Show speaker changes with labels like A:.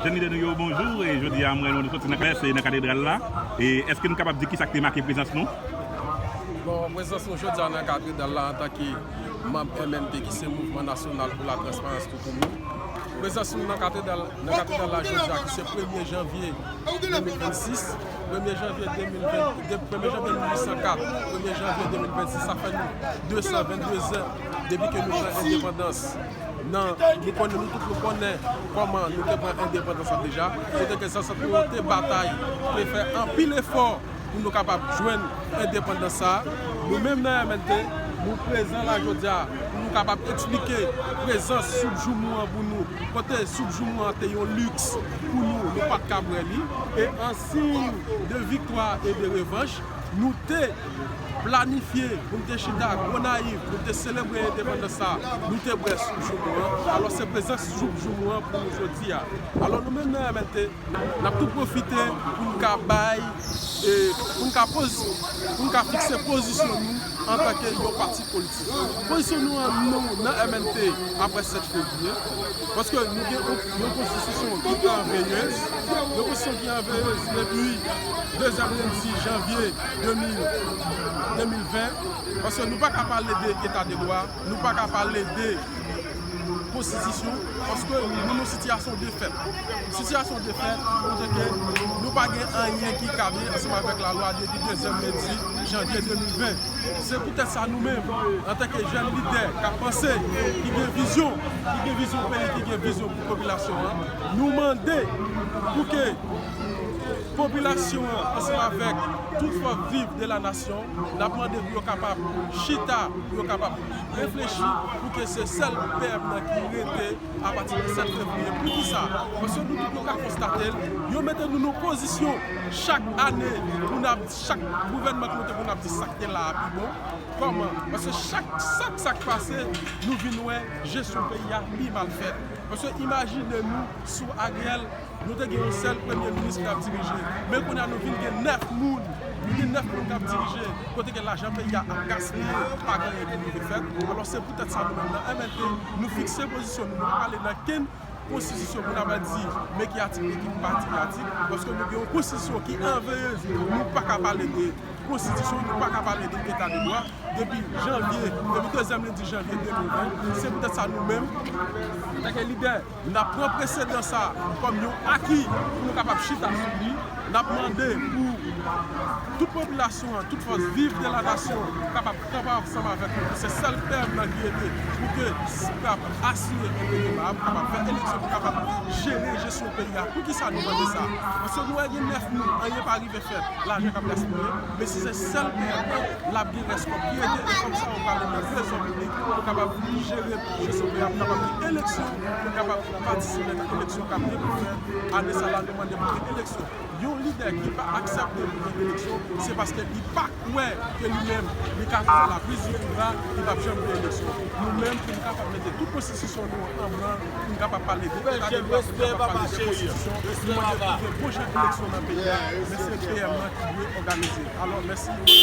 A: Jèn lidè nou yo, bonjou! Jodi a, m wè nou soti nan klès e nan katedral la. Èske nou kapab di kisa ki te make prezans nou?
B: Prezans nou jodi a nan katedral la antanke manb MNT ki se Mouvman Nasyonal pou Latransparans Toutouni. Prezans nou nan katedral la jodi a ki se premye janvye 2026, premye janvye 2020, premye janvye 1804, premye janvye 2026, sa fè nou 222 zan depi ke nou pran endepandans. Nan nou konnen nou tout nou konnen kòman nou te pran endepandans la deja, kote ke zansèt nou yo te batay, te fè anpil efò pou nou kapab jwenn endepandans sa a. Nou menm nan MNT, nou prezan la jodi a pou nou kapab eksplike prezans soup joumou an pou nou, kote soup joumou an te yon liks pou nou, nou pa t ka bwè li. E an siy de viktwa e de revanch. Nou te planifye pou n te chita Gonayiv pou n te selebre endepandans sa a, nou te bwè soup joumou an, alò se prezans soup joumou an pou nou jodi a. Alò nou menm nan MNT, n ap tou pwofite pou n ka bay, pou n ka fikse pozisyon nou. Antanke yon pati politik, pozisyon nou an nou nan MNT apre 7 fevriye, paske nou gen yon konstitisyon ki an veyez, yon konstitisyon ki an veyez depi dezyèm lendi janvye 2020, paske nou pa ka pale de eta de dwa. Nou pa ka pale de konstitisyon paske nou nan sitiyasyon defèt. Sitiyasyon defèt kote ke nou pa gen anyen ki kable ansanm avèk lalwa depi dezyèm lendi janvye 2020. Se poutèt sa nou menm antanke jèn lidè k ap panse, ki gen vizyon, ki gen vizyon peyi, ki gen vizyon pou popilasyon an, nou mande pou ke popilasyon an ansanm avèk tout fòs viv de la nasyon, N ap mande pou yo kapab chita, pou yo kapab reflechi pou ke se sèl PM nan ki rete a pati de 7 fevriye. Pou ki sa? Paske nou tout nou ka konstate l, yo mete nou nan pozisyon chak ane pou n ap, chak gouvènman ki mete pou n ap di sa k te la a pi bon. Kòman? Paske chak chak sa k pase nou vin wè jesyon peyi a pi mal fèt. Paske imajine nou sou Ariel. Nou te gen yon sèl premye minis ki t ap dirije, men kounye a nou vin gen 9 moun, nou gen 9 moun k ap dirije, kote ke lajan peyi a ap gaspiye, pa gen anyen ki rive fèt. Alòs se poutèt sa nou menm nan MLD, nou fikse pozisyon nou, nou pa prale nan kenn konstitisyon pou n ap di men ki atik li, ki pa di ki atik, paske nou gen yon konstitisyon ki anveye nou pa ka pale de konstitisyon, nou pa ka pale de eta de dwa depi janvye, depi dezyèm lendi janvye 2020. Se poutèt sa nou menm, antanke lidè. N ap pran presedan sa a kòm yon aki pou nou kapab chita sou li. N ap mande pou tout popilasyon an, tout fòs viv de la nasyon kapab kanpe ansanm avèk nou. Se sèl tèm nan ki rete pou ke nou kapab asire enterè MAP, kapab fè eleksyon pou kapab jere jesyon peyi a. Poukisa nou mande sa? Paske nou wè gen 9 moun, anyen pa rive fèt, lajan k ap gaspiye. Men si se sèl tèm nan, l ap gen rès kòb ki rete e kòb sa yo pral rete trezò piblik pou nou kapab jere. Misye Sopé ap kapab gen eleksyon, pou kapab patisipe nan eleksyon kap gen pou fèt, ane sa lal demande pou gen eleksyon. Yon lidè ki pa aksepte pou gen eleksyon, se paske li pa kwè ke li menm li ka fè la prise du pouvoir, li pap janm gen eleksyon. Nou menm pou nou kapab mete tout konstitisyon nou an an branl, pou nou kapab pale de eta de dwa, pou nou kapab pale de konstitisyon, nou mande pou gen bon jan eleksyon nan peyi a, men se PM lan ki dwe òganize. Alò, mèsi.